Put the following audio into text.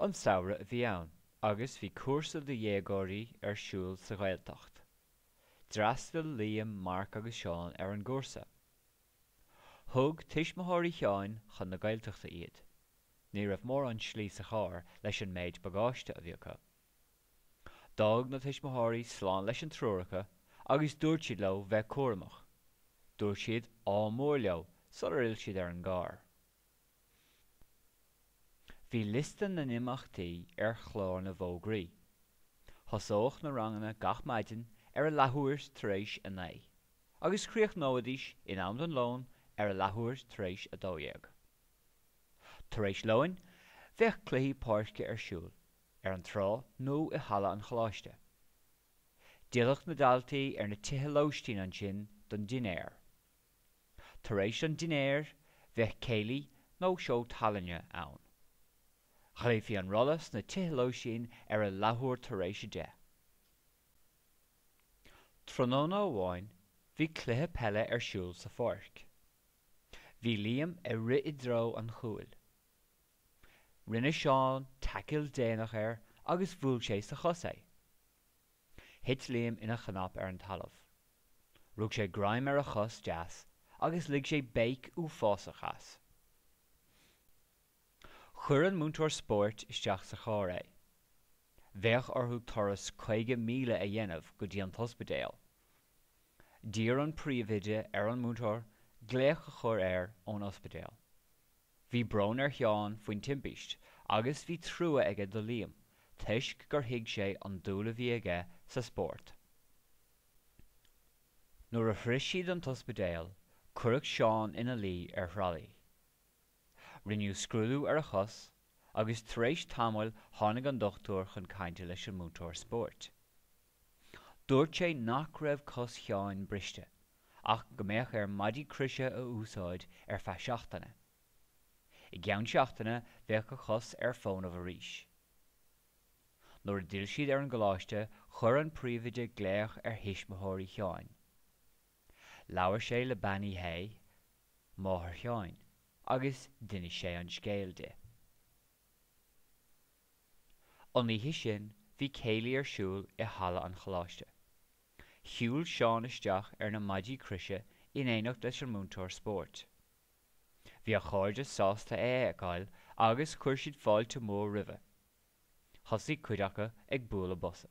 An samhradh a bhí ann agus bhí cúrsa do dhéagóirí ar siúl sa Ghaeltacht. D'fhreastail Liam, Marc agus Seán ar an gcúrsa. Thug tuismitheoirí Sheáin chun na Gaeltachta iad. Ní raibh mórán slí sa charr leis an méid bagáiste a bhí acu. D'fhág na tuismitheoirí slán leis an triúr acu agus dúirt siad leo bheith cúramach. Dúirt siad 'ádh mór' leo sular fhill siad ar an gcarr. Bhí liosta na n-imeachtaí ar chlár na bhfógraí. Thosódh na ranganna gach maidin ar a leathuair tar éis a naoi agus chríochnóidís in am don lón ar a leathuair tar éis a dó dhéag. Tar éis lóin bheadh cluichí páirce ar siúl ar an trá nó i halla an choláiste. D'fhillfeadh na daltaí ar na tithe lóistín ansin don dinnéar. Tar éis an dinnéir, bheadh céilí nó seó tallainne ann. Ghlaofaí an rolla sna tithe lóistín ar a leathuair tar éis a deich. Tráthnóna amháin, bhí cluiche peile ar siúl sa pháirc. Bhí Liam ag rith i dtreo an chúil. Rinne Seán taicil déanach air agus bhuail sé sa chos é. Thit Liam ina chnap ar an talamh. Rug sé greim ar a chos deas agus lig sé béic uafásach as. Chuir an múinteoir spóirt isteach sa charr é. Bheadh orthu turas 50 míle a dhéanamh go dtí an t-ospidéal. D'iarr an príomhoide ar an múinteoir glaoch a chur air ón ospidéal. Bhí brón ar Sheán faoin timpíst agus bhí trua aige do Liam toisc gur thuig sé an dúil a bhí aige sa spórt. Nuair a shrois siad an t-ospidéal, cuireadh Seán ina luí ar thralaí. Rinneadh scrúdú ar a chos agus tar éis tamaill tháinig an dochtúir chun cainte leis an múinteoir spóirt. Dúirt sé nach raibh cos Sheáin briste ach go mbeadh air maidí croise a úsáid ar feadh seachtaine. I gceann seachtaine bheadh a chos ar fónamh arís. Nuair a d'fhill siad ar an gcoláiste chuir an príomhoide glaoch ar thuismitheoirí Sheáin. Labhair sé le Bean Uí Shé, máthair Sheáin, agus d'inis sé an scéal di. An oíche sin bhí céilí ar siúl i halla an choláiste. Shiúil Seán isteach ar na maidí croise in éineacht leis an múinteoir spóirt. Bhí a chairde sásta é a fheiceáil agus chuir siad fáilte mhór roimhe. Thosaigh cuid acu ag bualadh bosa.